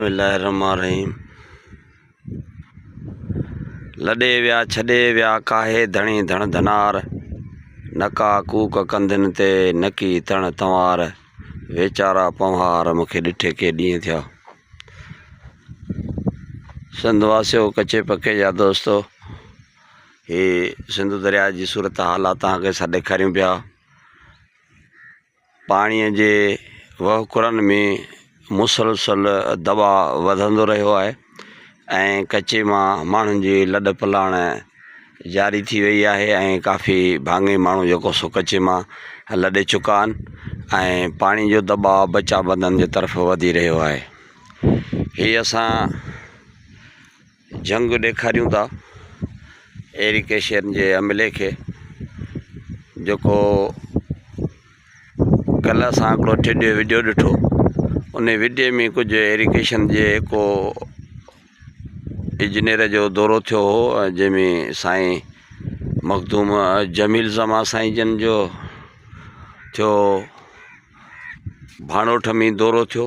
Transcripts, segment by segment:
بسم الله الرحمٰن الرحيم لڏي ويا ڇڏي ويا ڪاهي ڌڻي ڌڻ ڌنار نڪا ڪوڪ ڪنڌين تي نڪي تڻ تنوار ويچارا پنوهار مون کي ڏٺي ڪي ڏينهن ٿيا سنڌ واسيو ڪچي پڪي جا دوستو هي سنڌو دريا جي صورت حالات تان کي سڏ ڪريون پيا پاڻي جي وهڪرن ۾ مسلسل دٻاء وڌندو رهيو آهي ۽ ڪچي مان ماڻهن جي لڏ پلاڻ جاري ٿي وئي آهي ۽ ڪافي ڀاڱي ماڻهو جيڪو سو ڪچي مان لڏي چڪا آهن ۽ پاڻي جو دٻاء بچا بندن جي طرف وڌي رهيو آهي هي اسان جهنگ ڏيکاريون ٿا ايرڪ ايشين جي عملي کي جيڪو ڪلهه اسان هڪڙو ٽيڊيو ويڊيو ڏٺو ان ويڊيو ۾ ڪجهه ايرڪ ايشين جي هڪو اجنير جو دورو ٿيو هو جنهن ۾ سائين مخدوم جميل زمان سائين جن جو ٿيو ڀاڻوٺ ۾ دورو ٿيو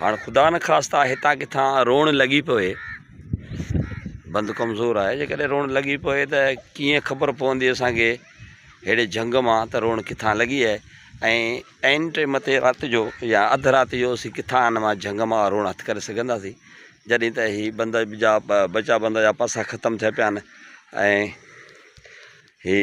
هاڻ خدا نخواسته هتان ڪٿان روڻ لڳي پوي بند ڪمزور آهي جيڪڏهن روڻ لڳي پوي ته ڪيئن خبر پوندي اسانکي ههڙي جهنگ مان ته روڻ ڪٿان لڳي آهي ۽ عين ٽي مٿي رات جو يا اڌ رات جو اسين ڪٿان ان مان جهنگ مان روڻ هٿ ڪري سگهنداسين جڏهن ته هي بند جا بچا بند جا پاسا ختم ٿيا پيا آهن ۽ هي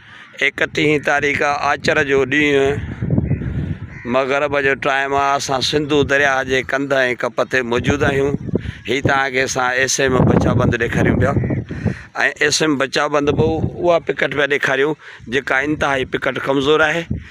ايڪٽيهين تاريخ آچر جو ڏينهن مغرب جو ٽائيم آ اسان سنڌو درياهه جي ڪنڌ ۽ ڪپ تي موجود آهيون هي توهان کي اسان ايس ايم بچا بند ڏيکاريون پيا ۽ ايس ايم بچا بند به اها پڪٽ پيا ڏيکاريون جيڪا انتهائي پڪٽ ڪمزور آهي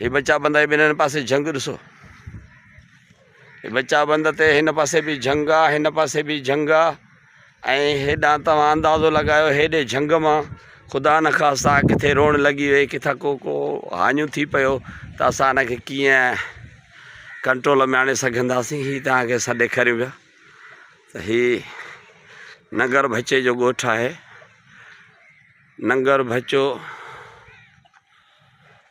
هي بچا بند ۽ ٻنهن پاسي جهنگ ڏسو. هي بچا بند تي هن پاسي به جهنگ آ هن پاسي به جهنگ آ ۽ هيڏان توهان اندازو لڳايو هيڏي جهنگ مان خدا نه خاصا ڪٿي روڻ لڳي وئي ڪٿا ڪو ڪو هاڃون ٿي پيو ته اسان هن کي ڪيئن ڪنٽرول ۾ آڻي سگهنداسين هي توهان کي اسان ڏيکاريون پيا ته هي ننگر ڀچي جو ڳوٺ آهي ننگر ڀچو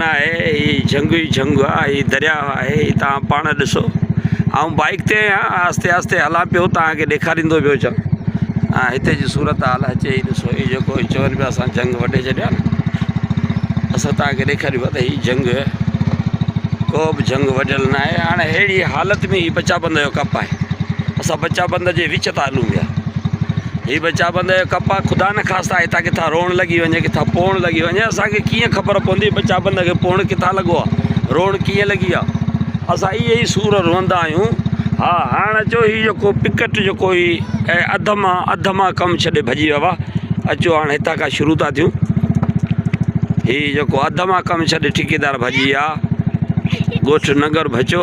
نه آهي هي جهنگ ئي جهنگ آ هي دريا آهي هي توهان پاڻ ڏسو آئون بائيڪ تي آهيان آهستي آهستي هلان پيو توهان کي ڏيکاريندو پيو اچان ها هتي جي صورت حال اچي هي ڏسو هي جيڪو هي چون پيا اسان جهنگ وڍي ڇڏيا اسان توهان کي ڏيکاريون پيا ته هي جهنگ ڪو به جهنگ وڍيل نه آهي هاڻي اهڙي حالت ۾ هي بچا بند جو ڪپ آهي اسان بچا بند جي وچ تان هلون پيا هي به چابند جو ڪپ آ خدا نه خاصتا هتان ڪٿان روڻ لڳي وڃي ڪٿان پوڻ لڳي وڃي اسان کي ڪيئن خبر پوندي به چابند کي پوڻ ڪٿان لڳو آ روڻ ڪيئن لڳي آ اسان اي اي سور روئندا آيون ها هاڻ اچو هي جو کو پڪٽ جو کوئي اي ادما ادما ڪم ڇڏي ڀڄي ويوا اچو هاڻ هتا کا شروع تا ٿيون هي جو کو ادما ڪم ڇڏي ٺيڪيدار ڀڄي آ گوٺ ننگر ڀچو